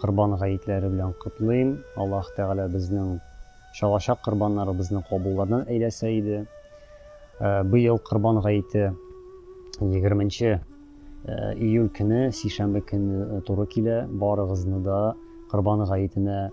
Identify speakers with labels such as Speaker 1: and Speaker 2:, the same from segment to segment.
Speaker 1: Корбан гаетләре белән котлыйм. Аллаһ Тәгалә безнең чалачак корбаннарыбызны кабуллардан әйләсә иде. Быел Корбан гаете егерменче июль көне, сишәмбе көне туры килә. Барыгызны да Корбан гаетенә,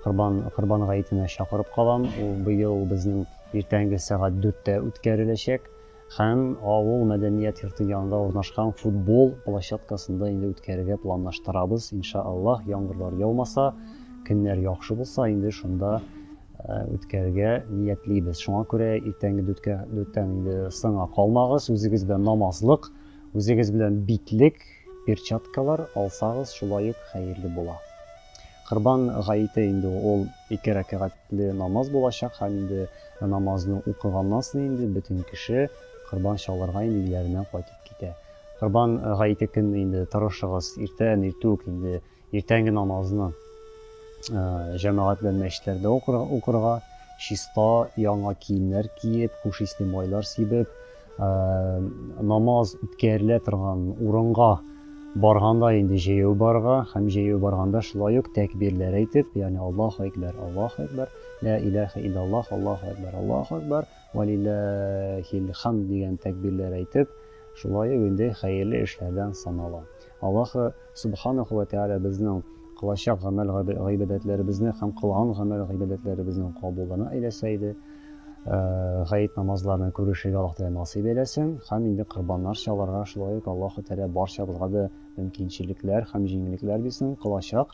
Speaker 1: Корбан, Корбан гаетенә чакырып калам. Ул быел безнең иртәнге сәгать дүрттә үткәреләчәк. һәм авыл мәдәният йорты янында урнашкан футбол площадкасында инде үткәрергә планлаштырабыз, инша Аллаһ, яңгырлар яумаса, көннәр яхшы булса, инде шунда үткәрергә ниятлибез. Шуңа күрә иртәнге дүрткә дүрттән инде соңа калмагыз, үзегез белән намазлык, үзегез белән битлек, перчаткалар алсагыз, шулай ук хәерле була. Корбан гаете инде ул ике рәкәгать. Ле намаз булачак һәм инде намазны укыганнан соң инде бөтен кеше корбан чалырга инде өйләренә кайтып китә. Корбан гаете көнне инде тырышыгыз, иртән иртү үк инде иртәнге намазны җәмәгать белән мәчетләрдә укырга, чиста яңа киемнәр киеп, хуш исле майлар сибеп, Намаз үткәрелә торган урынга барганда инде җәяү барырга һәм җәяү барганда шулай ук тәкбирләр әйтеп, ягъни Аллаһу әкбәр, Аллаһу әкбәр, ла илаха иллаллаһ, Аллаһу әкбәр, Аллаһу әкбәр, ва лиллаһил хамд дигән тәкбирләр әйтеп, шулай ук инде хәерле эшләрдән санала. Аллаһы Субханәһү вә Тәгалә безнең кылачак гамәл гыйбадәтләребезне һәм кылган гамәл гыйбадәтләребезнең кабулына әйләсә иде. Гает намазларына күрешергә Аллаһ Тәгалә насыйп әйләсен һәм инде корбаннар чалырга шулай ук Аллаһы Тәгалә барчабызга да мөмкинчелекләр һәм җиңеллекләр бирсен, кылачак